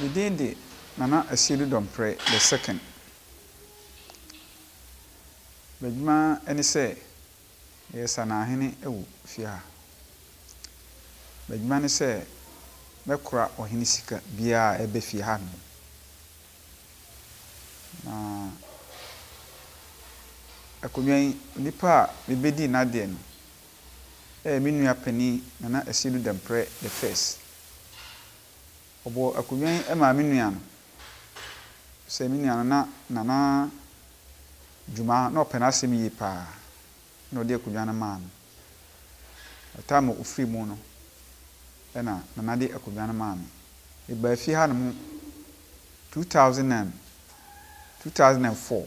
Ne din de Nana Asiedu Dɔmprɛ the second. B'adwuma ne sɛ ɔyɛ sanahene wɔ fie ha. B'adwuma ne sɛ bɛkora ɔhene sika biara a ɛba fie ha nom. Na Akonwa yi, onipa a mebɛdii n'adeɛ no yɛ me nua panin Nana Asiedu Dɔmprɛ the first. Ɔbɔɔ akonnwa yi maa me nua no. Sɛ me nua no na Nana Dwuma na ɔpɛ n'asɛm yie paa na ɔde akonnwa no maa me. By time a ɔfiri mu no na Nana de akonnwa no maa me. Mebaa fie ha nom two thousand and two thousand and four.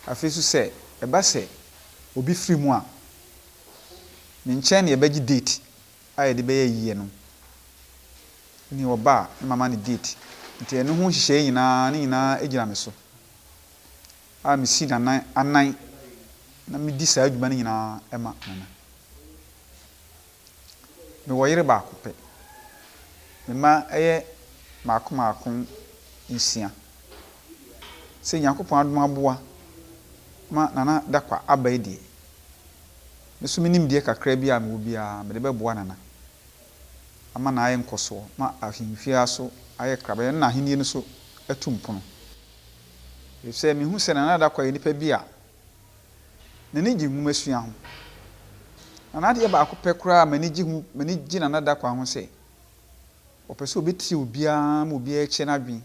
Afei nso sɛ ɛba sɛ obi firi mu a, me nkyɛn na yɛbɛgye date. a yɛde bɛyɛ ayiyɛ no ne ɔba a ne mama ne date nti ɛno ho nhyehyɛeɛ nyinaa ne nyinaa gyina me so a mesi nanan anan na medi saa adwuma no nyinaa ma nana. Mewɔ yere baako pɛ. Me mma yɛ mmaako mmaako nsia. Sɛ Nyankopɔn adom aboa ma Nana Dakwah aba yi deɛ, Me nso me nimdeɛ kakra bi a mewɔ biara, mede bɛboa Nana ama no ayɛ nkɔsoɔ ma ahemfie ara so ayɛ krabɛyɛ na n'ahennie no so atu mpono. Efisɛ mehu sɛ Nana Dakoa yɛ nipa bi a n'ani gye nwomasua ho. Na n'adeɛ baako pɛ koraa a m'ani gye ho, m'ani gye Nana Dakoa ho sɛ, ɔpɛ sɛ ɔbɛtie obiara ma obiara akyerɛ n'adwene.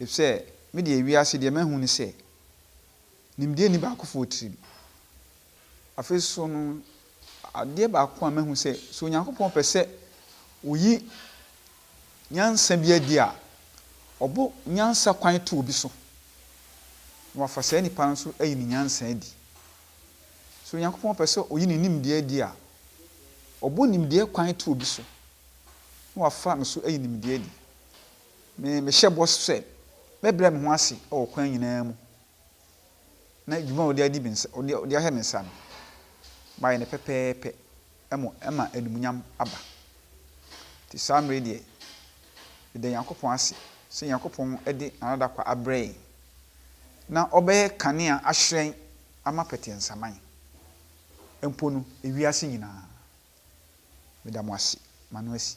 Efisɛ me deɛ wiase deɛ mahu ne sɛ, Nimdeɛ nni baakofo wɔ tirim. Afei nso no, adeɛ baako a mahu sɛ, sɛ Onyankopɔn pɛ sɛ ɔyi nyansa bi adi a, ɔbɔ nyansa kwan to obi so, na wafa saa nipa no so ayi ne nyansa adi. Sɛ Onyankopɔn pɛ sɛ ɔyi ne nimdeɛ adi a, ɔbɔ nimdeɛ kwan to obi so, na wafa me so ayi nimdeɛ adi. Me, mehyɛ bɔ sɛ, mɛbrɛ me ho ase wɔ kwan nyinaa mu na dwuma a wode adi me nsa, wode, wode ahyɛ me nsa no, mayɛ no pɛpɛɛpɛ, ɛmo, ɛma animuonyam aba. Nti saa mmerɛ yi deɛ, yɛda Nyankopɔn ase sɛ Nyankopɔn de N'adadakɔ abrɛ yɛn, na ɔbɛyɛ kanea ahyerɛn ama pɛteɛnsaman mpo no, ewiase nyina ara. Meda mo ase, m'ano asi.